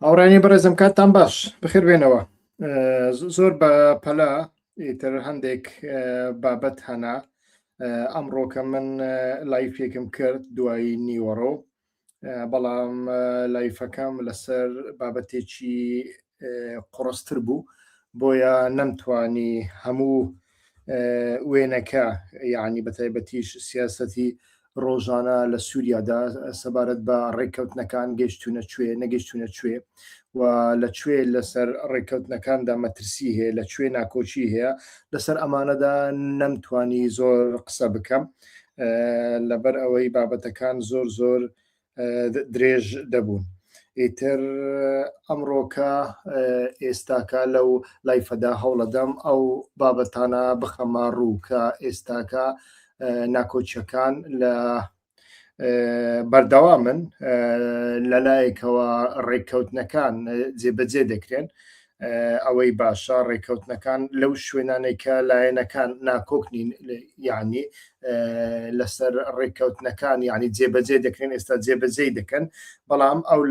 هاوڕانی بەڕێزم کاتتان باش بخێر بێنەوە زۆر بە پەلا ئیتر هەندێک بابەت هەنا ئەمڕۆکە من لایفێکم کرد دوایی نیوەڕۆ بەڵام لایفەکەم لەسەر بابەتێکی قڕستر بوو بۆیە نەمتوانی هەموو وێنەکە یعنی بە تایبەتیش سیاستی ڕۆژانە لە سووریادا سەبارەت بە ڕێککەوتنەکان گەشتونە کوێ نەگەشتونە کوێ و لە کوێ لەسەر ڕێککەوتنەکاندا مەترسی هەیە لە کوێ ناکۆچی هەیە لەسەر ئەمانەدا نەمتوانی زۆر قسە بکەم لەبەر ئەوەی بابەتەکان زۆر زۆر درێژ دەبوون ئیتر ئەمڕۆکە ئێستاکە لەو لایفەدا هەوڵەدەم ئەو بابەتانە بخەمە ڕوو کە ئێستاکە ناکۆچەکان لە بەردەوامن لەلایەکەوە ڕێککەوتنەکان جێبەجێ دەکرێن ئەوەی باشە ڕێکەوتنەکان لەو شوێنانێک کە لایەنەکان ناکۆک نین یعنی لەسەر ڕێککەوتنەکان یعنی جێبەجێ دەکرێن ئێستا جێبەجێ دەکەن بەڵام ئەو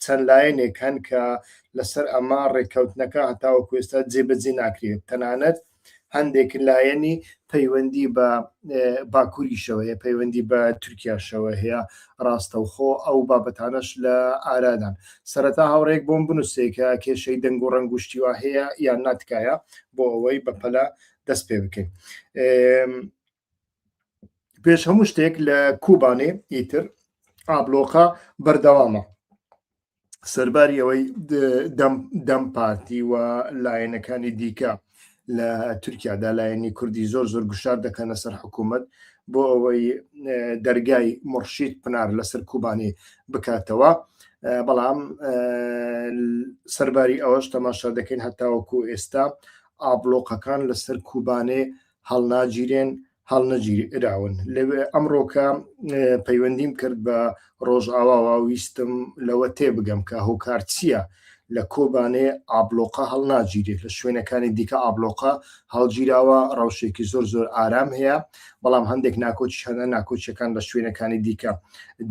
چەند لایەنێک هەن کە لەسەر ئەمە ڕێککەوتنەکە هەتاوە کوێستا جێبەجێ ناکرێت تەنانەت هەندێک لایەنی پەیوەندی بە باکووریشەوەیە پەیوەندی بە تورکیاشەوە هەیە ڕاستەوخۆ ئەو بابەتانەش لە ئارادان سەرەتا هاوڕێک بۆم بنووسێکە کێشەی دەنگ و ڕنگوشتیوا هەیە یان ناتکایە بۆ ئەوەی بەپەلە دەست پێ بکەین پێش هەموو شتێک لە کوبانێ ئیتر ئابلۆقا بەردەوامە سەرباری ئەوەی دەم پارتی و لایەنەکانی دیکە لە تورکیادا لایەنی کوردی زۆر زۆر گوشار دەکەنە سەر حکوومەت بۆ ئەوەی دەرگای مرشید پنار لەسەر کوبانی بکاتەوە بەڵام سەرباری ئەوەش تەماشا دەکەین هەتاوەکو ئێستا ئابلۆقەکان لەسەر کوبانێ هەڵناگیرێن هەڵنەگیراون لەوێ ئەمڕۆکە پەیوەندیم کرد بە ڕۆژئاواوە ویستم لەوە تێبگەم کە هۆکار چییە لە کۆبانێ ئابلۆقە هەڵناگیرێت لە شوێنەکانی دیکە ئابلۆقە هەڵگیراوە ڕەوشێکی زۆر زۆر ئارام هەیە بەڵام هەندێک ناکۆچی هەنە ناکۆچەکان لە شوێنەکانی دیکە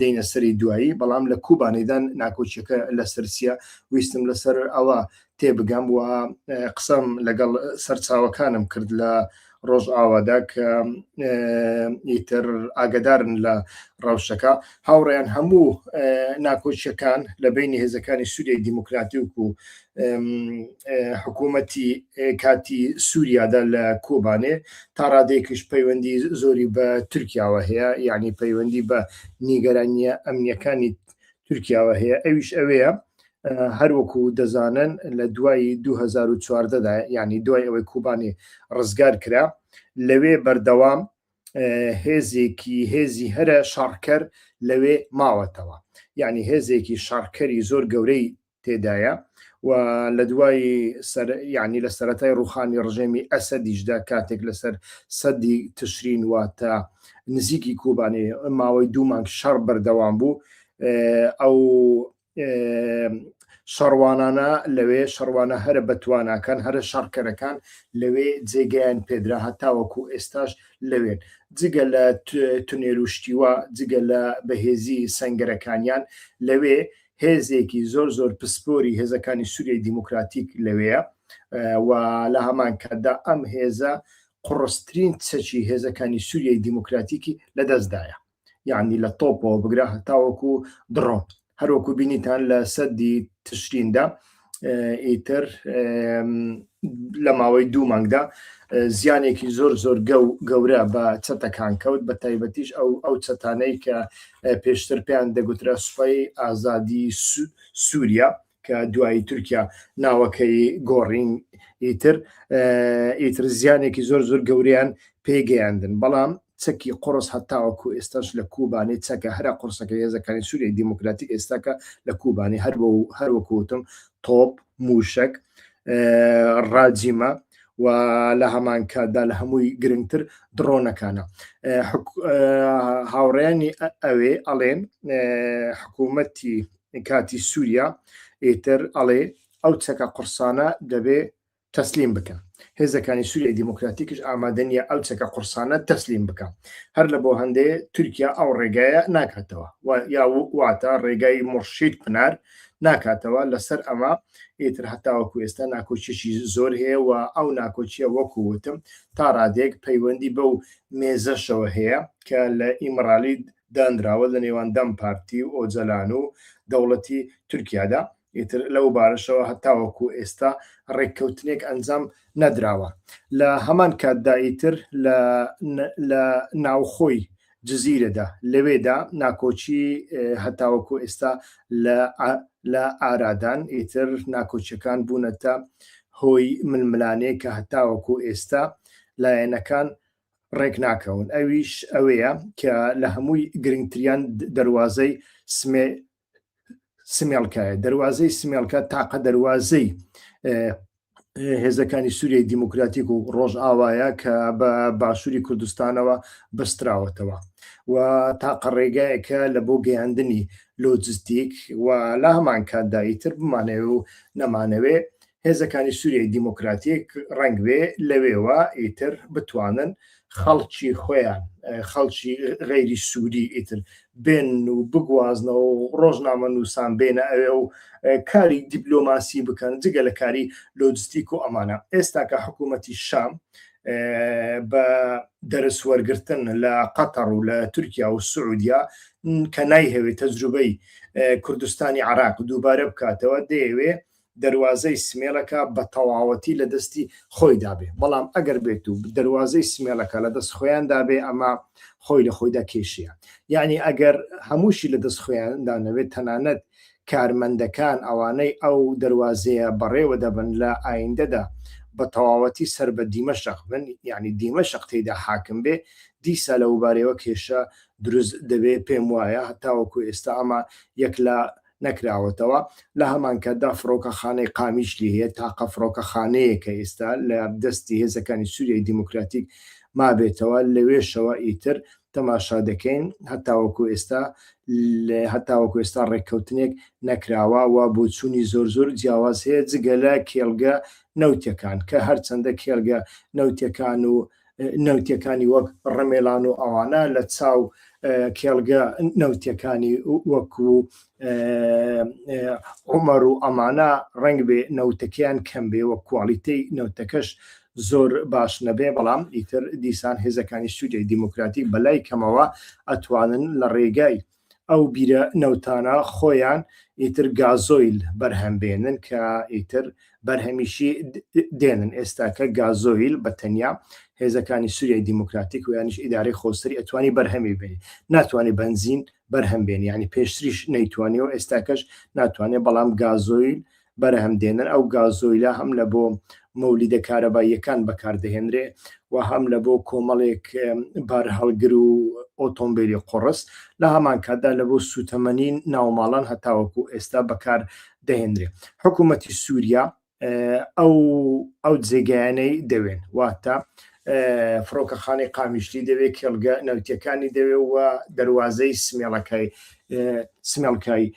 دەینە سەری دوایی بەڵام لە کوبانێدان ناکۆچەکە لە سەرسیە ویستم لەسەر ئەوە تێبگەم و قسەم لەگەڵ سەرچاوەکانم کرد لە ڕۆژئاوادا کە ئیتر ئاگدارن لە ڕەوشەکە هاوڕێیان هەموو ناکۆچیەکان لە بینی هێزەکانی سووری دیموکراتیک و حکوومەتی کاتی سووریادا لە کۆبانێ تا ڕادێکیش پەیوەندی زۆری بە تورکیاوە هەیە یعنی پەیوەندی بە نیگەرانیە ئەمنیەکانی تورکیاوە هەیە ئەویش ئەوەیە هەروەکو دەزانن لە دوای 2014دا ینی دوای ئەوەی کوبانی ڕزگار کرا لەوێ بەردەوام هێزێکی هێزی هەرە شەڕکەر لەوێ ماوەتەوە یعنی هێزێکی شەڕکەری زۆر گەورەی تێدایە و لە دوای ینی لە سەتای ڕوخانی ڕژێمی ئەسەدیشدا کاتێک لەسەر سەدی تشرین واتە نزیکی کوبانی ماوەی دوو مانگ شەڕ بەردەوام بوو ئەو شەڕوانانە لەوێ شەڕوانە هەرە بەتواناکان هەرە شەڕکەرەکان لەوێ جێگەیان پێدرا هەتاوەکو ئێستاش لەوێن جگە لە تونێروشتیوە جگە لە بەهێزی سنگەرەکانیان لەوێ هێزێکی زۆر زۆر پسپۆری هێزەکانی سووری دیموکراتیک لەوەیە و لە هەمان کاتدا ئەم هێزە قڕسترین چەکی هێزەکانی سووریای دیموکراتیکی لەدەستدایە یعنی لە تۆپەوە بگرە هەتاوەکو دڕۆن هەروەکو بینیتان لە سەدی تشریندا ئیتر لە ماوەی دوو مانگدا زیانێکی زۆر زۆر گەورە بە چەتەکان کەوت بە تایبەتیش ئەو ئەو چەتانەی کە پێشتر پێیان دەگوترا سوپای ئازادی سووریا کە دوایی تورکیا ناوەکەی گۆڕین ئیتر ئیتر زیانێکی زۆر زۆر گەوریان پێگەیاندن بەڵام چەکی قڕس هەتاوەکو ئێستاش لە کوبانی چەکە هەرا قرسەکە هێزەکانی سووری دیموکراتی ئێستاکە لە کوبانی هەر بۆ هەروەکوتم تۆپ موشک ڕاجیمە و لە هەمان کاتدا لە هەمووی گرنگتر دڕۆنەکانە هاوڕێنی ئەوێ ئەڵێن حکوومەتی کاتی سوریا ئیتر ئەڵێ ئەو چەکە قوڕسانە دەبێ تەسلیم بکەن هێزەکانی سوریای دیموکراتیکش ئامادە نیە ئەو چەکە قوڕسانە تەسلیم بکا هەر لە بۆ هەندەیە تورکیا ئەو ڕێگایە ناکاتەوە و یا واتە ڕێگای مڕشید پنار ناکاتەوە لەسەر ئەمە ئیتر هەتاوەکو ئێستا ناکۆچێکی زۆر هەیە و ئەو ناکۆچیە وەکو وتم تا ڕادێک پەیوەندی بەو مێزەشەوە هەیە کە لە ئیمڕالی دانراوە لە نێوان دەم پارتی و ئۆجەلان و دەوڵەتی تورکیادا، ئیتر لەو بارەشەوە هەتاوەکو ئێستا ڕێککەوتنێک ئەنجام نەدراوە. لە هەمان کاتدا ئیتر لە ناوخۆی جزیرەدا، لەوێدا ناکۆکی هەتاوەکو ئێستا لە ئارادان، ئیتر ناکۆکیەکان بوونەتە هۆی ململانێ کە هەتاوەکو ئێستا لایەنەکان ڕێک ناکەون ئەویش ئەوەیە کە لە هەمووی گرنگتریان دەواازەی سمێ سمێڵکایە دەواازەی سمێڵکە تاقە دەواازەی هێزەکانی سووریای دیموکراتیک و ڕۆژ ئاوایە کە بە باشووری کوردستانەوە بەستراوەتەوە و تاقە ڕێگایەکە لە بۆ گەیاندنی لۆجستیک و لا هەمان کاتداییتر بمانەوە و نەمانەوێ هێزەکانی سوریای دیموکراتیک ڕەنگبێ لەوێوە ئیتر بتوانن خەڵکی خۆیان خەڵکی غەیری سووری ئیتر بێن و بگوازنەوە و ڕۆژنامە نووسان بێنە ئەوێ و کاری دیبلۆماسی بکەن جگە لە کاری لۆجستیک و ئەمانە ئێستا کە حکوومەتی شام بە دەرس وەرگتن لە قەتەڕ و لە تورکیا و سعودیا کە نایهەوێت تەجروبەی کوردستانی عراق دووبارە بکاتەوە دەیەوێ دەروازەی سمێڵەکە بە تەواوەتی لە دەستی خۆیدا بێ، بەڵام ئەگەر بێت و دەروازەی سمێڵەکە لە دەست خۆیاندا بێ ئەمە خۆی لە خۆیدا کێشەیە، یەعنی ئەگەر هەمووشی لە دەست خۆیاندا نەبێت تەنانەت کارمەندەکان ئەوانەی ئەو دەروازەیە بەڕێوە دەبەن لە ئایندەدا بە تەواوەتی سەر بە دیمەشق بن یەعنی دیمەشق تێیدا حاکم بێ دیسا لەوبارەیەوە کێشە دروست دەبێ پێم وایە هەتاوەکو ئێستا ئەمە یەک لە نەکراوەتەوە، لە هەمانکاتدا فڕۆکەخانەی قامیشلی هەیە، تاقە فڕۆکەخانەیەکە ئیستا لە دەستی هێزەکانی سوریای دیموکراتیک مابێتەوە، لەوێشەوە ئیتر تەماشا دەکەین، هەتاوەکو ئێستا هەتاوەکو ئێستا ڕێککەوتنێک نەکراوە و بۆچوونی زۆر زۆر جیاواز هەیە جگە لە کێڵگە نەوتیەکان کە هەرچەندە کێڵگە نەوتیەکان و نەوتیەکانی وەک ڕەمێلان و ئەوانە لە چاو کێڵگە نەوتیەکانی وەکو عمر و ئەمانە ڕنگ بێ نەوتەکەیان کەم بێ وە کوالیتی نەوتەکەش زۆر باش نەبێ بەڵام ئیتر دیسان هێزەکانی سوودی دیموکراتی بەلای کەمەوە ئەتوانن لە ڕێگای ئەو بیرە نەوتانە خۆیان ئیتر گازۆیل بەرهەم بێنن کە ئیتر بەرهەمیشی دێنن ئێستاکە گازۆیل بە تەنیا هێزەکانی سوریای دیموکراتیک و یانیش ئیدارەی خۆسەری ئەتوانی بەرهەمی بێنی ناتوانێت بەنزین بەرهەم بێنی ینی پێشتریش نەیتوانی و ئێستاکەش ناتوانێت بەڵام گازۆیل بەرهەم دێنن، ئەو گازۆیلە هەم لە بۆ مۆلیدە کارەباییەکان بەکار دەهێنرێ و هەم لە بۆ کۆمەڵێک بارهەڵگر و ئۆتۆمبیلی قوڕس، لە هەمان کاتدا لە بۆ سووتەمەنی ناوماڵان هەتاوەکو ئێستا بەکار دەهێنرێ. حکوومەتی سووریا ئەو ئەو جێگایانەی دەوێن، واتە فڕۆکەخانەی قامیشلی دەوێ، کێڵگە نەوتییەکانی دەوێ و دەروازەی سمێڵەکەی سمێڵکای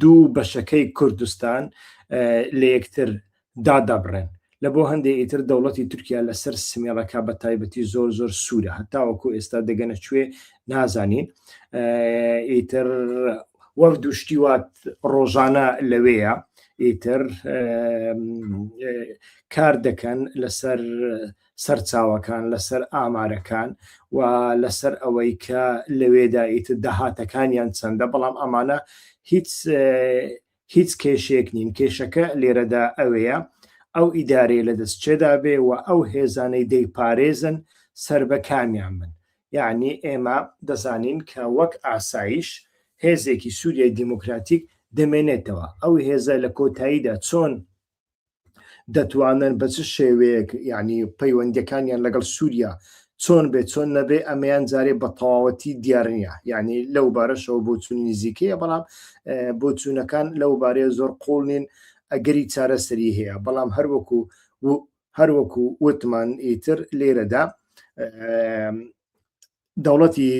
دوو بەشەکەی کوردستان لە یەکتر دادەبڕێن لە بۆ هەندێک ئیتر دەوڵەتی تورکیا لەسەر سمێڵەکە بە تایبەتی زۆر زۆر سوورە هەتاوەکو ئێستا دەگەنە کوێ نازانین ئیتر وەک دوشتیوات ڕۆژانە لەوەیە ئیتر کار دەکەن لەسەر سەرچاوەکان لەسەر ئامارەکان و لەسەر ئەوەی کە لەوێدا ئیتر داهاتەکانیان چەندە بەڵام ئەمانە هیچ هیچ کێشێک نین کێشەکە لێرەدا ئەوەیە ئەو ئیدارەیە لە دەست چێدا بێ و ئەو هێزانەی دەیپارێزن سەر بە کامیان من یعنی ئێمە دەزانین کە وەک ئاسایش هێزێکی سووریای دیموکراتیک دەمێنێتەوە ئەو هێزە لە کۆتاییدا چۆن دەتوانن بە چ شێوەیەک یعنی پەیوەندەکانیان لەگەڵ سووریا چۆن بێ چۆن نەبێ ئەمەیان جارێ بە تەواوەتی دیار نییە یعنی لەو بارەشەوە بۆ چون نزیکەیە بەڵام بۆ چوونەکان لەو بارەیە زۆر قوڵ نین ئەگەری چارەسەری هەیە بەڵام هەروەکو هەروەکو وتمان ئیتر لێرەدا دەوڵەتی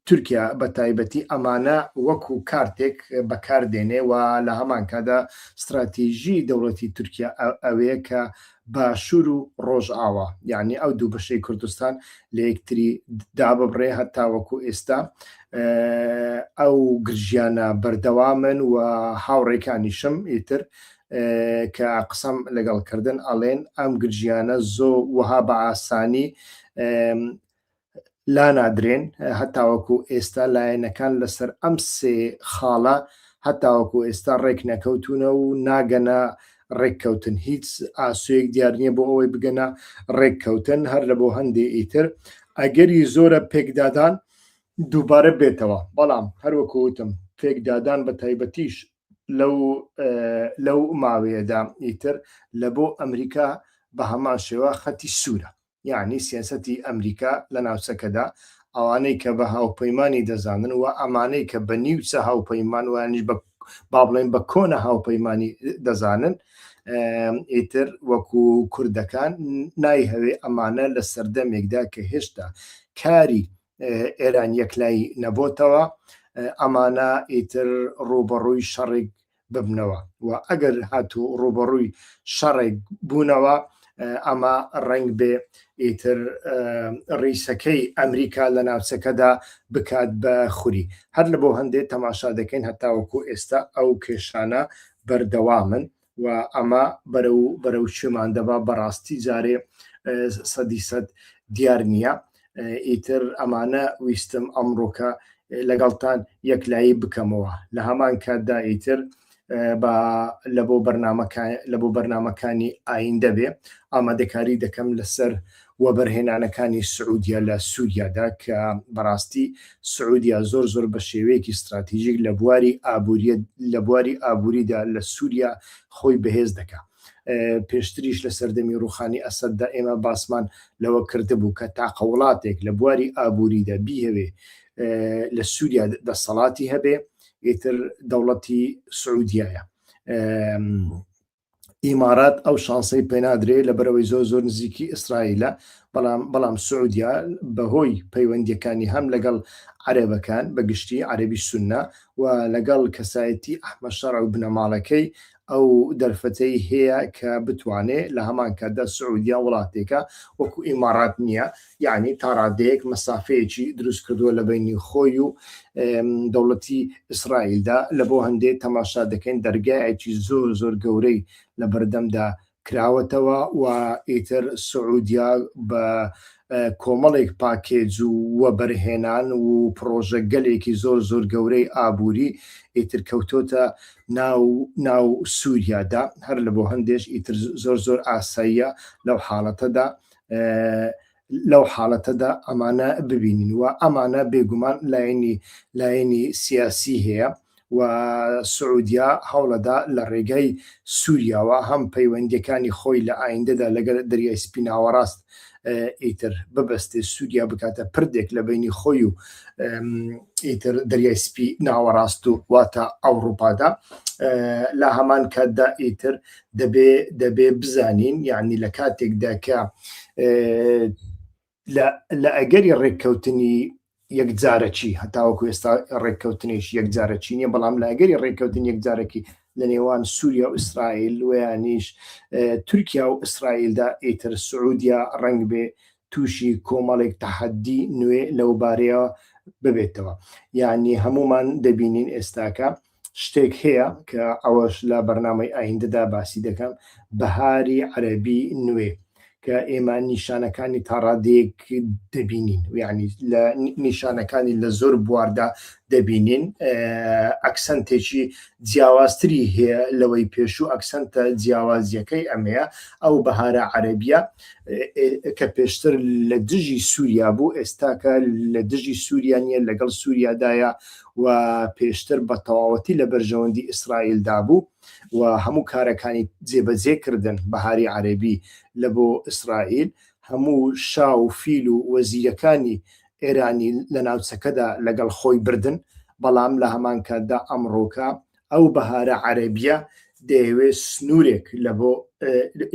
تورکیا بە تایبەتی ئەمانە وەکو کارتێک بەکار دێنێ و لە هەمان کاتدا ستراتیژی دەوڵەتی تورکیا ئەوەیە کە باشوور و ڕۆژئاوا یعنی ئەو دوو بەشەی کوردستان لە یەکتری داببڕێ هەتا وەکو ئێستا ئەو گرژیانە بەردەوامن و هاوڕێکانیشم ئیتر کە قسەم لەگەڵکردن ئەڵێن ئەم گرژیانە زۆ وەها بە ئاسانی لانادرێن هەتاوەکو ئێستا لایەنەکان لەسەر ئەم سێ خاڵە هەتاوەکو ئێستا ڕێک نەکەوتونە و ناگەنە ڕێککەوتن هیچ ئاسوەیەک دیار نییە بۆ ئەوەی بگەنە ڕێککەوتن هەر لە بۆ هەندێ ئیتر ئەگەری زۆرە پێکدادان دووبارە بێتەوە بەڵام هەروەکو وتم پێکدادان بە تایبەتیش لەو لەو ماوەیەدا ئیتر لە بۆ ئەمریکا بە هەمان شێوە خەتی سوورە یەعنی سیاسەتی ئەمریکا لە ناوچەکەدا، ئەوانەی کە بە هاوپەیمانی دەزانن و ئەمانەی کە بە نیوچە هاوپەیمان و یانیش بە با بڵێین بە کۆنە هاوپەیمانی دەزانن، ئیتر وەکو کوردەکان نایهەوێ ئەمانە لە سەردەمێکدا کە هێشتا کاری ئێران یەکلایی نەبۆتەوە، ئەمانە ئیتر ڕووبەڕووی شەڕێک ببنەوە و ئەگەر هاتوو ڕووبەڕووی شەڕێک بوونەوە ئەمە ڕەنگ بێ ئیتر ڕیسەکەی ئەمریکا لە ناوچەکەدا بکات بە خوری هەر لە بۆ هەندێک تەماشا دەکەین هەتاوەکو ئێستا ئەو کێشانە بەردەوامن و ئەمە بەرە و بەرە و شێمان دەبا بەڕاستی جارێ سەدی سەد دیار نییە ئیتر ئەمانە ویستم ئەمڕۆکە لەگەڵتان یەکلایی بکەمەوە لە هەمان کاتدا ئیتر لە بۆ بەرنمەکان لە بۆ بەرنمەکانی ئاین دەبێ ئامادەکاری دەکەم لەسەر وەبەرهێنانەکانی سعودیا لە سووریادا کە بەڕاستی سعودیا زۆر زۆر بە شێوەیەکی استراتیژیک لە بواری ئابووریت لە بواری ئابووریدا لە سووریا خۆی بەهێز دەکات پێشتریش لە سەردەمی ڕوخانی ئەسەددا ئێمە باسمان لەوە کردبوو کە تاقە وڵاتێک لە بواری ئابووریدا بیهەوێ لە سووریا دەسەڵاتی هەبێ ئیتر دەوڵەتی سعودیایە ئیمارات ئەو شانسەی پێنادرێ لە بەرەوەی زۆر زۆر نزیکی ئیسرائیلە بەڵام بەڵام سعودیا بەهۆی پەیوەندیەکانی هەم لەگەڵ عەرێبەکان بەگشتی عەربی سنە و لەگەڵ کەسایەتی ئەحمە شەڕ و بنەماڵەکەی ئەو دەرفەتەی هەیە کە بتوانێ لە هەمان کاتدا سعودیە وڵاتێکە وەکو ئیمارات نییە یانی تا ڕادەیەک مەسافەیەکی دروست کردووە لە بەینی خۆی و دەوڵەتی ئیسرائیلدا لە بۆ هەندێ تەماشا دەکەین دەرگایەکی زۆر زۆر گەورەی لە بەردەمدا کراوەتەوە و ئیتر سعودیە بە کۆمەڵێک پاکێج و وەبەرهێنان و پڕۆژە گەلێکی زۆر زۆر گەورەی ئابووری ئیتر کەوتۆتە ناو ناو سوریادا هەر لە بۆ هەندێش ئیتر زۆر زۆر ئاساییە لەو حاڵەتەدا لەو حاڵەتەدا ئەمانە ببینین و ئەمانە بێگومان لایەنی لایەنی سیاسی هەیە و سعودیا هەوڵەدا لە ڕێگای سووریاوە هەم پەیوەندەکانی خۆی لە ئایندەدا لەگەر دەریای سپیناوەڕاست ئیتر ببەستێ سووریا بکاتە پردێک لە بینی خۆی و ئیتر دەریای سپی ناوەڕاست و واتە ئەوروپادا لە هەمان کاتدا ئیتر دەبێ دەبێ بزانین یعنی لە کاتێکدا کە لە ئەگەری ڕێککەوتنی یەکجارەکی هەتاوەکو ئێستا ڕێککەوتنیش یەکجارەکی نیە بەڵام لە ئەگەری ڕێککەوتن یەکجارەکی لە نێوان سووریا و ئیسرائیل ویانیش تورکیا و ئیسرائیلدا ئیتر سعودیا ڕنگ بێ تووشی کۆمەڵێک تەحەدی نوێ لەو بارەیە ببێتەوە یعنی هەمومان دەبینین ئێستاکە شتێک هەیە کە ئەوەش لە بەرنامەی ئایندەدا باسی دەکەم، بەهاری عەرەبی نوێ، کە ئێمە نیشانەکانی تا ڕادەیەک دەبینین، یانی لە نیشانەکانی لە زۆر بواردا دەبینین، ئەکسەنتێکی جیاوازتری هەیە لەوەی پێشوو، ئەکسەنتە جیاوازیەکەی ئەمەیە، ئەو بەهارە عەرەبیە کە پێشتر لە دژی سووریا بوو، ئێستاکە لە دژی سووریا نیە، لەگەڵ سووریادایە و پێشتر بە تەواوەتی لە بەرژەوەندی ئیسرائیل دا بوو و هەموو کارەکانی جێبەجێ کردن، بەهاری عەرەبی، لە بۆ ئیسرائیل، هەموو شا و فیل و وەزیرەکانی ئێرانی لە ناوچەکەدا لەگەڵ خۆی بردن، بەڵام لە هەمان کاتدا ئەمڕۆکە ئەو بەهارە عەرەبییە دەیەوێ سنوورێک لە بۆ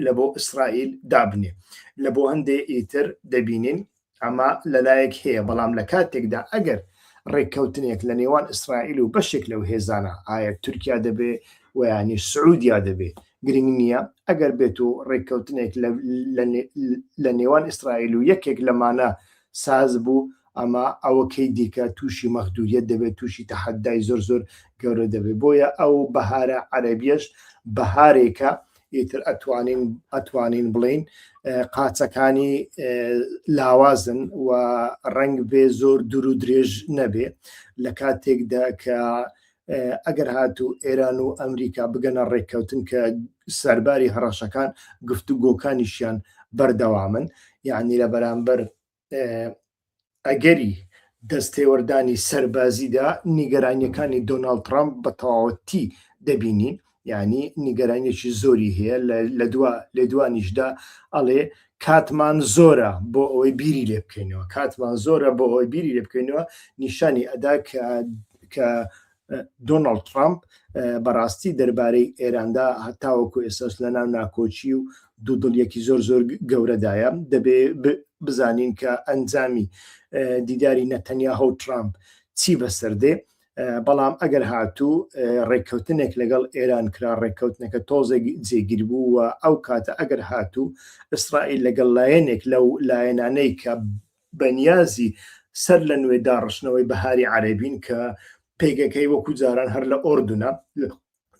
لە بۆ ئیسرائیل دابنێ. لە بۆ هەندێ ئیتر دەبینین ئەمە لە لایەک هەیە، بەڵام لە کاتێکدا ئەگەر ڕێککەوتنێک لە نێوان ئیسرائیل و بەشێک لەو هێزانە، ئایا تورکیا دەبێ و یانی سعوودیا دەبێ، گرنگ نییە، ئەگەر بێت و ڕێککەوتنێک لە نێوان ئیسرائیل و یەکێک لەمانە ساز بوو، ئەمە ئەوکەی دیکە تووشی مەغدووریەت دەبێ، تووشی تەحەدای زۆر زۆر گەورە دەبێ. بۆیە ئەو بەهارە عەرەبیەش بەهارێکە ئیتر ئەتوانین ئەتوانین بڵین قاچەکانی لاوازن و ڕنگ بێ زۆر دوور و درێژ نەبێ لە کاتێکدا کە ئەگەر هاتوو ئێران و ئەمریکا بگەنە ڕێککەوتن کە سەرباری هەڕەشەکان گفتوگۆکانیشیان بەردەوامن یعنی لە بەرامبەر ئەگەری دەستێوەردانی سەربازیدا نیگەرانیەکانی دۆناڵ ترامپ بە تەواوەتی دەبینین ینی نیگەرانیەکی زۆری هەیە لە دوا لە دوانیشدا ئەڵێ کاتمان زۆرە بۆ ئەوەی بیری لێ بکەینەوە کاتمان زۆرە بۆ ئەوەی بیری لێ بکەینەوە نیشانی ئەدا کە کە دۆناڵد ترامپ بەڕاستی دەربارەی ئێراندا هەتاوەکو ئێساس لە ناو ناکۆچی و دوودڵیەکی زۆر زۆر گەورەدایە دەبێ بزانین کە ئەنجامی دیداری نەتەنیا هەو ترامپ چی بەسەردێ بەڵام ئەگەر هاتوو ڕێککەوتنێک لەگەڵ ئێران کرا ڕێککەوتنەکە تۆزێک جێگیر بوو و ئەو کاتە ئەگەر هاتوو ئیسرائیل لەگەڵ لایەنێک لەو لایەنانەی کە بەنیازی سەر لە نوێ داڕشتنەوەی بەهاری عەرەبین کە پێگەکەی وەکو جاران هەر لە ئۆردونە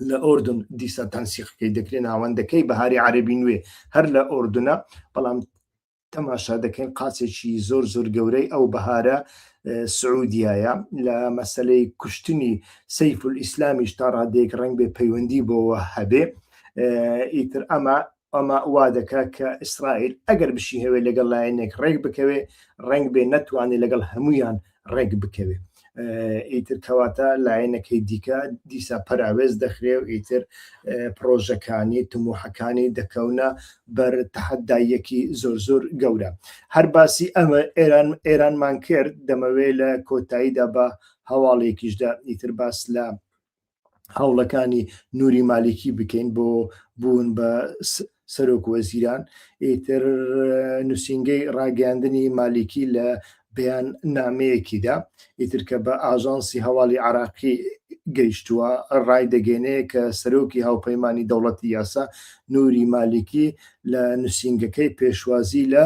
لە ئۆردون دیسا تەنسیقەکەی دەکرێت ناوەندەکەی بەهاری عەرەبی نوێ هەر لە ئۆردونە بەڵام تەماشا دەکەین قاچێکی زۆر زۆر گەورەی ئەو بەهارە سعودیایە لە مەسلەی کوشتنی سەیف و ئیسلامیش تا ڕادێک ڕنگ بێ پەیوەندی بۆەوە هەبێ ئیتر ئەمە ئەمە وا دەکات کە ئیسرائیل ئەگەر بشیهەوێت لەگەڵ لایەنێک ڕێک بکەوێت، ڕەنگبێ نەتوانێت لەگەڵ هەموویان ڕێک بکەوێت. ئیتر کەواتە لایەنەکەی دیکە دیسا پەراوێز دەخرێ و ئیتر پرۆژەکانی تموحەکانی دەکەونە بەر تەحەداییەکی زۆر زۆر گەورە. هەر باسی ئەمە ئێران ئێرانمان کرد دەمەوێت لە کۆتاییدا بە هەواڵێکیشدا ئیتر باس لە هەوڵەکانی نوری مالیکی بکەین بۆ بوون بە سەرۆک وەزیران ئیتر نووسنگەی ڕاگەاندنی مالیکی لە بەیان نامەیەکیدا ئیتر کە بە ئاژانسی هەواڵی عراقی گەیشتووە ڕای دەگەێنەیە کە سەرۆکی هاوپەیمانانی دەوڵەتی یاسا نوری مالیکی لە نووسنگەکەی پێشوازی لە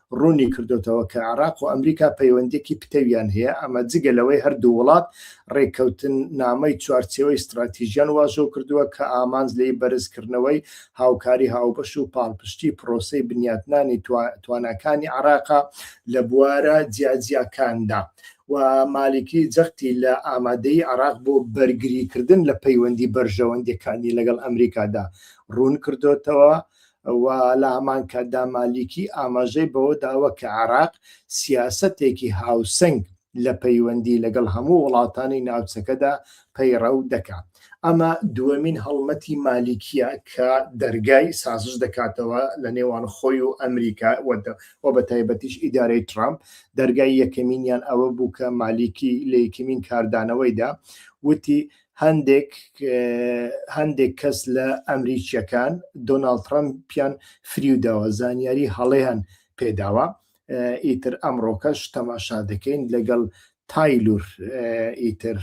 ڕوونی کردۆتەوە کە عێراق و ئەمریکا پەیوەندیەکی پتەویان هەیە، ئەمە جگە لەوەی هەردوو وڵات ڕێککەوتننامەی چوارچێوەی ستڕاتیژیان واژۆ کردووە کە ئامانج لێی بەرزکردنەوەی هاوکاری هاوبەش و پاڵپشتی پڕۆسەی بنیاتنانی تواناکانی عێراقە لە بوارە جیاجیاکاندا و مالیکی جەختی لە ئامادەیی عێراق بۆ بەرگریکردن لە پەیوەندی بەرژەوەندیەکانی لەگەڵ ئەمریکادا ڕوونکردۆتەوە و لە هەمانکاتدا مالیکی ئاماژەی بەوە داوە کە عێراق سیاسەتێکی هاوسەنگ لە پەیوەندی لەگەڵ هەموو وڵاتانی ناوچەکەدا پەیڕەو دەکات. ئەمە دووەمین هەڵمەتی مالیکییە کە دەرگای سازش دەکاتەوە لە نێوان خۆی و ئەمریکا و بە تایبەتیش ئیدارەی ترامپ، دەرگای یەکەمینیان ئەوە بوو کە مالیکی لە یەکەمین کاردانەوەیدا وتی هەندێک هەندێک کەس لە ئەمریکیەکان دۆناڵد ترەمپیان فریوداوە زانیاری هەڵەیان پێداوە ئیتر ئەمڕۆکەش تەماشا دەکەین لەگەڵ تایلور ئیتر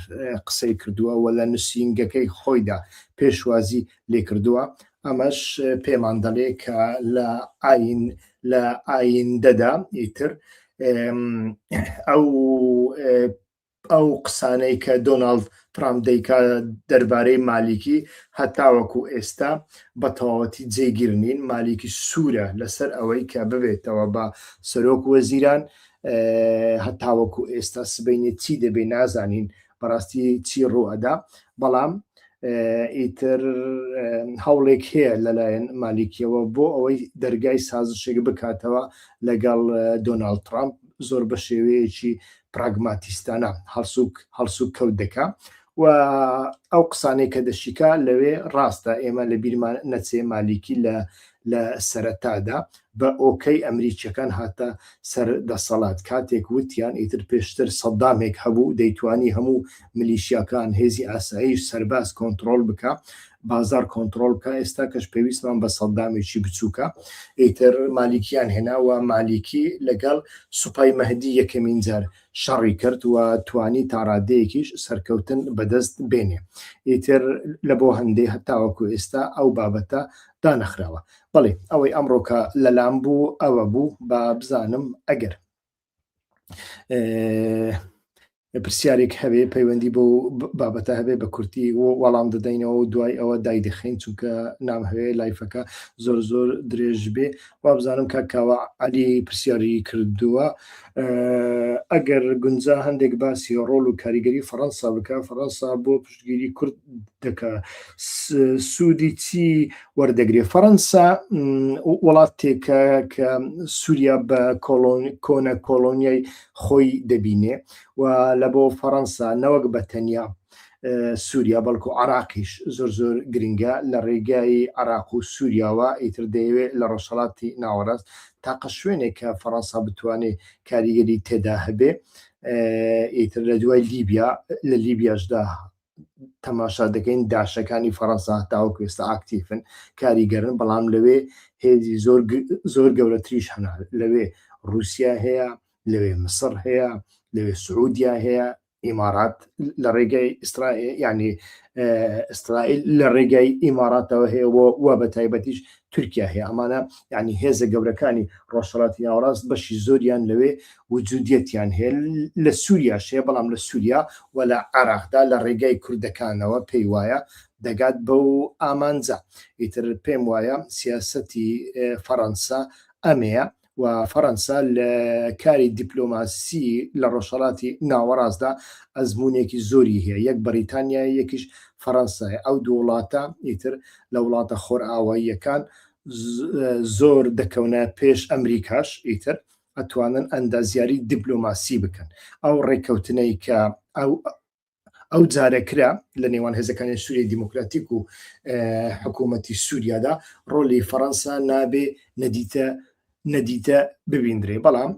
قسەی کردووە و لە نووسینگەکەی خۆیدا پێشوازی لێکردووە ئەمەش پێمان دەڵێ کە لە ئاین لە ئایندەدا ئیتر ئەو ئەو قسانەی کە دۆناڵد ترامپ دەیکا دەربارەی مالیکی هەتاوەکو ئێستا بە تەواوەتی جێگیر نین مالیکی سوورە لەسەر ئەوەی کە ببێتەوە بە سەرۆک وەزیران هەتاوەکو ئێستا سبینێ چی دەبێ نازانین بەڕاستی چی ڕوو ئەدا بەڵام ئیتر هەوڵێک هەیە لەلایەن مالیکیەوە بۆ ئەوەی دەرگای سازشێک بکاتەوە لەگەڵ دۆناالد ترامپ زۆر بە شێوەیەکی پراگماتیستانە هەڵسوک هەڵسوک کەوت دەکا و ئەو قسانەی کە دەشیکا لەوێ ڕاستە ئێمە لە بیرمان نەچێ مالیکی لە لە سەرەتادا بە ئۆکەی ئەمریکیەکان هاتە سەر دەسەڵات کاتێک وتیان ئیتر پێشتر سەدامێک هەبوو دەیتوانی هەموو ملیشیاکان هێزی ئاسایی سەرباز کۆنتترۆل بکە بازار کۆنتڕۆڵ بکا ئێستا کەش پێویستمان بە سەدامێکی بچوکە ئیتر مالیکیان هێنا وە مالیکی لەگەڵ سوپای مەهدی یەکەمین جار شەڕی کرد وە توانی تاڕادەیەکیش سەرکەوتن بەدەست بێنێ ئیتر لە بۆ هەندێ هەتاوەکو ئێستا ئەو بابەتە دانەخراوە بەڵێ ئەوەی ئەمڕۆکە لەلام بوو ئەوە بوو با بزانم ئەگەر پرسیارێک هەبێ پەیوەندی بۆ بابەتە هەبێ بە کورتی وەڵام دەدەینەوە و دوای ئەوە دای دەخین چونکە نام هەوێ لایفەکە زۆر زۆر درێژ بێ وابزانم کا کاوە علی پرسیاری کردووە ئەگەر گونجا هەندێک باسی ڕۆل و کاریگەری فەەنسا بکە فەەنسا بۆ پش پشتگیری کورد دەکا سوودی چی وەردەگرێ فەڕەنسا وڵاتێکە کە سووریا بە کۆنە کۆلۆنیای خۆی دەبینێ و لە بۆ فەڕەنسا نەوەک بە تەنیا سووریا بەڵکو عراقیش زۆر زۆر گرنگە لە ڕێگای عراق و سووریاوە ئیتر دەیەوێت لە ڕۆژهڵاتی ناوەڕاست تاقە شوێنێک کە فەڕەنسا بتوانێت کاریگەری تێدا هەبێ ئیتر لە دوای لیبیا لە لیبیاشدا تەماشا دەکەین داشەکانی فەڕەنسا تاوەکو ئێستا ئاکتیفن کاریگەرن بەڵام لەوێ هێزی زۆر زۆر گەورەتریش هەنا لەوێ رووسیا هەیە لەوێ مسڕ هەیە لەوێ سعودیا هەیە ئیمارات لە ڕێگەی ئیسرائیل ینی ئیسرائیل لە ڕێگەی ئیماراتەوە هەیە و بە تایبەتیش تورکیا هەیە ئەمانە یعنی هێزە گەورەکانی ڕۆژهڵاتی ناوەڕاست بەشی زۆریان لەوێ وجودیەتیان هەیە لە سووریا شێ بەڵام لە سووریا و لە عراقدا لە ڕێگای کوردەکانەوە پێی وایە دەگات بەو ئامانجە ئیتر پێم وایە سیاسەتی فەڕەنسا ئەمەیە و فەرەنسا لە کاری دیپلۆماسی لە ڕۆژهەڵاتی ناوەڕاستدا ئەزموونێکی زۆری هەیە، یەک بەڕیتانیایە یەکیش فەرەنسایە، ئەو دوو وڵاتە ئیتر لە وڵاتە خۆرئاواییەکان زۆر دەکەونە پێش ئەمریکاش ئیتر ئەتوانن ئەندازیاری دیپلۆماسی بکەن، ئەو ڕێککەوتنەی کە ئەو ئەو جارەکرا لە نێوان هێزەکانی سووری دیموکراتیک و حکوومەتی سووریادا ڕۆلی فەەنسا نابێ نەدیتە نەدیتە ببیندرێ بەڵام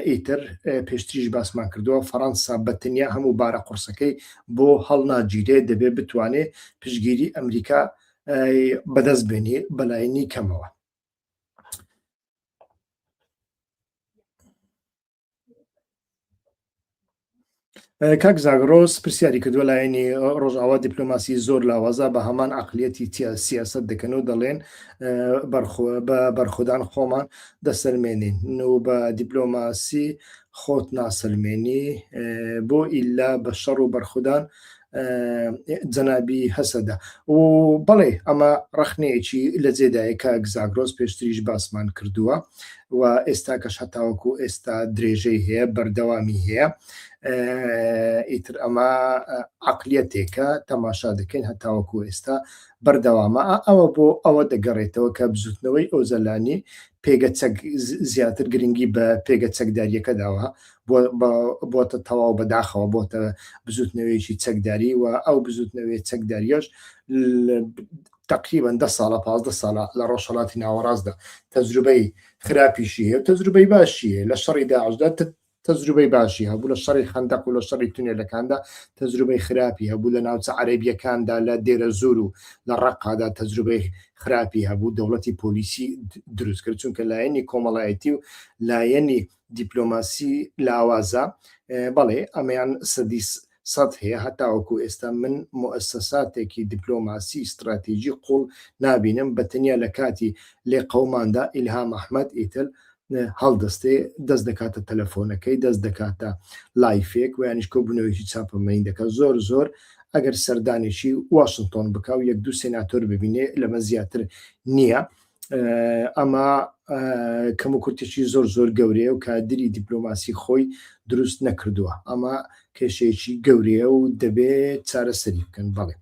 ئیتر پێشتریش باسمان کردووە فەەنسا بەتەنیا هەموو بارە قورسەکەی بۆ هەڵناگیرێ دەبێ بتوانێ پشگیری ئەمریکا بەدەست بێنی بەلاینی کەمەوە کاک زاگرۆس پرسیاری کردوە لایەنی ڕۆژاوا دیپلۆماسی زۆر لاوازە بە هەمان عقلیەتی سیاست دەکەن و دەڵێن بە بەرخودان خۆمان دەسەلمێنین و بە دیپلۆماسی خۆت ناسەلمێنی بۆ ئیلا بە شەڕ و بەرخودان جەنابی هەسەدە و بەڵێ ئەمە ڕخنەیەکی لە جێدایەکە گزاگرۆز پێشتریش باسمان کردووە و ئێستا کەش هەتاوەکو ئێستا درێژەی هەیە بەردەوامی هەیە ئیتر ئەمە عقلیەتێکە تەماشا دەکەین هەتاوەکو ئێستا بەردەوامە ئەوە بۆ ئەوە دەگەڕێتەوە کە بزوتنەوەی ئۆزەلانی پێگە چەک زیاتر گرنگی بە پێگە چەکداریەکە داوە بۆتە تەواو بەداخەوە بۆتە بزوتنەوەیەکی چەکداری و ئەو بزوتنەوەی چەکداریش تقریبان ده ساڵە پازدە ساڵە لە ڕۆژهڵاتی ناوەڕاستدا تەجروبەی خراپیشی هەیە تەجروبەی باشی هەیە لە شەڕی داعشدا تەجروبەی باشی هەبوو لە شەڕی خەندەق و لە شەڕی تونێلەکاندا تەجروبەی خراپی هەبوو لە ناوچە عەربیەکاندا لە دێرە زۆر و لە ڕقادا تەجروبەی خراپی هەبوو دەوڵەتی پۆلیسی دروست کرد چونکە لایەنی کۆمەڵایەتی و لایەنی دیپلۆماسی لاوازە بەڵێ ئەمەیان سەدی سەد هەیە هەتاوەکو ئێستا من مؤسساتێکی دیپلۆماسی استراتیجی قوڵ نابینم بە تەنیا لە کاتی لێ قەوماندا ئیلهام ئەحمد ئیتر هەڵدەستێ دەست دەکاتە تەلەفۆنەکەی دەست دەکاتە لایفێک ویانش کۆ بنەوەیکی چاپەمەین دەکە زۆر زۆر ئەگەر سەردانێکی واشنگتۆن بکە و یەک دوو سێناتۆر ببینێ لەمە زیاتر نییە ئەمە کەم و کورتێکی زۆر زۆر گەورەیە و کادری دیپلۆماسی خۆی دروست نەکردووە ئەمە کێشەیەکی گەورەیە و دەبێت چارەسەری بکەن بەڵێ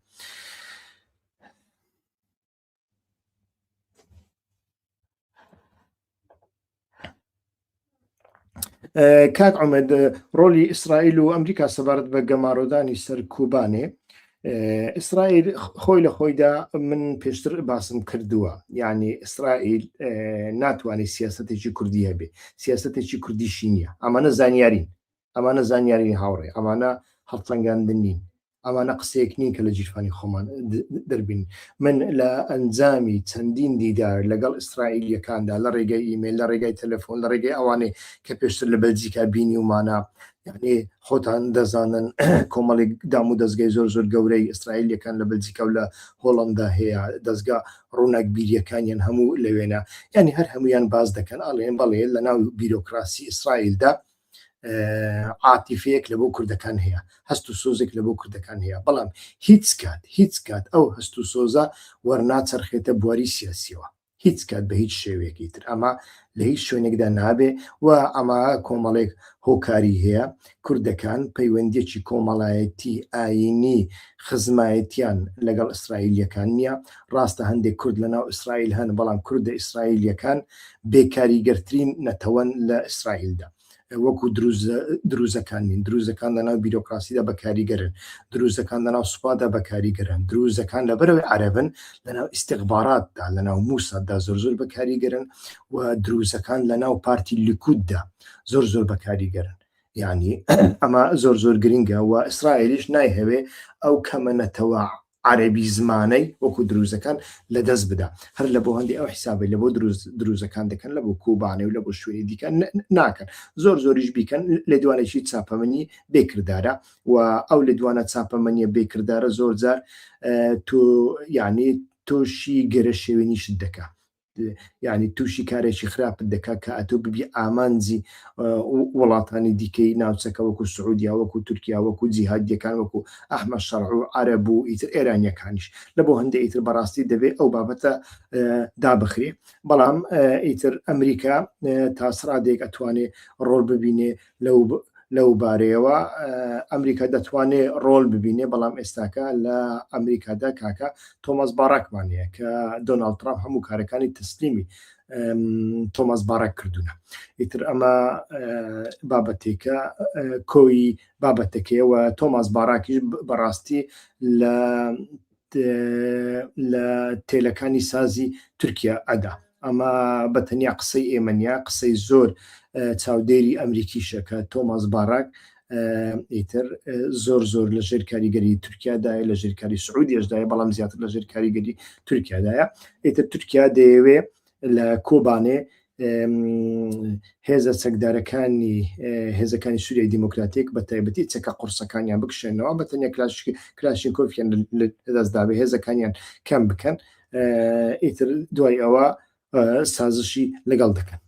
کاک ئەمەد ڕۆلی ئیسرائیل و ئەمریکا سەبارەت بە گەمارۆدانی سەر کوبانێ ئیسرائیل خۆی لە خۆیدا من پێشتر باسم کردووە یعنی ئیسرائیل ناتوانێت سیاستێکی کوردی هەبێ سیاستێکی کوردیشی نییە ئەمانە زانیارین ئەمانە زانیاری هاوڕێ ئەمانە هەڵسەنگاندن نین ئەمانە قسەیەک نین کە لە جیرفانی خۆمان دەربین من لە ئەنجامی چەندین دیدار لەگەڵ ئیسرائیلیەکاندا لە ڕێگەی ئیمێل لە ڕێگای تەلەفۆن لە ڕێگەی ئەوانێ کە پێشتر لە بەلجیکا بینی ومانە یعنی خۆتان دەزانن کۆمەڵێک دام و دەستگای زۆر زۆر گەورەی ئیسرائیلیەکان لە بەلجیکا و لە هۆڵندا هەیە دەستگا ڕووناک بیریەکانیان هەموو لەوێنە یعنی هەر هەمویان باز دەکەن ئاڵێن بەڵێ لە ناو بیرۆکراسی ئیسرائیلدا عاتیفەیەک لە بۆ کوردەکان هەیە هەست و سۆزێک لە بۆ کوردەکان هەیە بەڵام هیچ کات هیچ کات ئەو هەست و سۆزە وەرناچەرخێتە بواری سیاسیەوە هیچ کات بە هیچ شێوەیەکی تر ئەمە لە هیچ شوێنێکدا نابێ و ئەمە کۆمەڵێک هۆکاری هەیە کوردەکان پەیوەندیەکی کۆمەڵایەتی ئاینی خزمایەتیان لەگەڵ ئیسرائیلەکان نییە ڕاستە هەندێک کورد لە ناو ئیسرائیل هەن، بەڵام کوردە ئیسرائیلییەکان بێ کاریگەرترین نەتەوەن لە ئیسرائیلدا. وەکو دروزەکان نین، دروزەکان لە ناو بیرۆکراسیدا بە کاریگەرن، دروزەکان لە ناو سوپادا بە کاریگەرن، دروزەکان لەبەرەوەی عەرەبن لە ناو ئیستیخباراتدا، لە ناو مووساددا زۆر زۆر بە کاریگەرن و دروزەکان لە ناو پارتی لیکوددا زۆر زۆر بە کاریگەرن. یانی ئەمە زۆر زۆر گرینگە و ئیسرائیلیش نایهەوێ ئەو کەمە نەتەوە عەرەبی زمانەی وەکو دروزەکان لەدەست بدا هەر لە بۆ هەندی ئەو حیسابی لە بۆ دروز دروزەکان دەکەن لە بۆ کوبانێ و لە بۆ شوێنی دیکە ناکەن زۆر زۆریش بیکەن لە دوانێکی چاپەمەنی بێکردارە و ئەو لە دوانە چاپەمەنیە بێکردارە زۆر جار تۆ یعنی تۆشی گەرە شێوێنیشت دەکە یانی تووشی کارێکی خراپت دەکات کە ئەتۆ ببی ئامانجی وڵاتانی دیکەی ناوچەکە وەکو سعودیا وەکو تورکیا وەکو جیهادیەکان وەکو ئەحمە شەڕع و عرە بوو ئیتر ئێرانیەکانیش لە بۆ هەندێک ئیتر بەڕاستی دەبێت ئەو بابەتە دابخرێ بەڵام ئیتر ئەمریکا تاسرادێک ئەتوانێ ڕۆل ببینێ لەو بارەیەوە ئەمریکا دەتوانێ ڕۆل ببینێ بەڵام ئێستاکە لە ئەمریکادا کاکە تۆماس باڕکمان هەیە کە دۆناالد ترامپ هەموو کارەکانی تەسلیمی تۆماس باڕک کردوونە ئیتر ئەمە بابەتێکە کۆی بابەتەکەیەوە تۆماس باراکیش بەڕاستی لە لە تێلەکانی سازی تورکیا ئەدا ئەمە بە تەنیا قسەی ئێمە نیە قسەی زۆر چاودێری ئەمریکیشە کە تۆماس باراک ئیتر زۆر زۆر لە ژێر کاریگەری تورکیادایە لە ژێر کاری سعودیشدایە بەڵام زیاتر لە ژێر کاریگەری تورکیادایە ئیتر تورکیا دەیەوێ لە کۆبانێ هێزە چەکدارەکانی هێزەکانی سووریای دیموکراتیک بە تایبەتی چەکە قورسەکانیان بکشێنەوە بە تەنیا کلاشین کۆفیان دەستداێ هێزەکانیان کەم بکەن ئیتر دوای ئەوە سازشی لەگەڵ دەکەن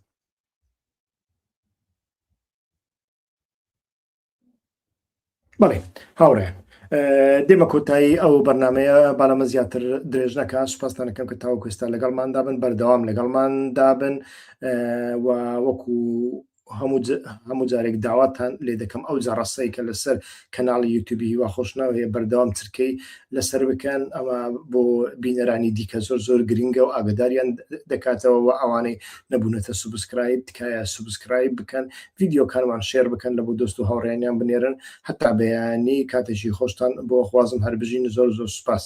بەڵێ هاوڕێ دێمە کۆتایی ئەو بەرنمەیە باەمە زیاتر درێژ نەکە سوپاستانەکەم کە تاو کوێستا لەگەڵمان دابن بەردەوام لەگەڵمان دابن وەکو هەموو جارێک داواتان لێ دەکەم ئەو جاڕاستەی کە لەسەر کەناڵی یوتوبی هیوا خۆشناوەیە بەردەوام چرکەی لەسەر بکەن ئەمە بۆ بینەرانی دیکە زۆر زۆر گرنگە و ئاگداریان دەکاتەوە و ئەوانەی نەبوونەتە سوبسکرایب تکایە سوبسکرایب بکەن ڤیدیۆکانمان شێر بکەن لەبۆ دۆست و هاوڕێیانیان بنێرن هەتا بەیانی کاتێکی خۆشتان بۆ خوازم هەر بژین زۆر زۆر سوپاس.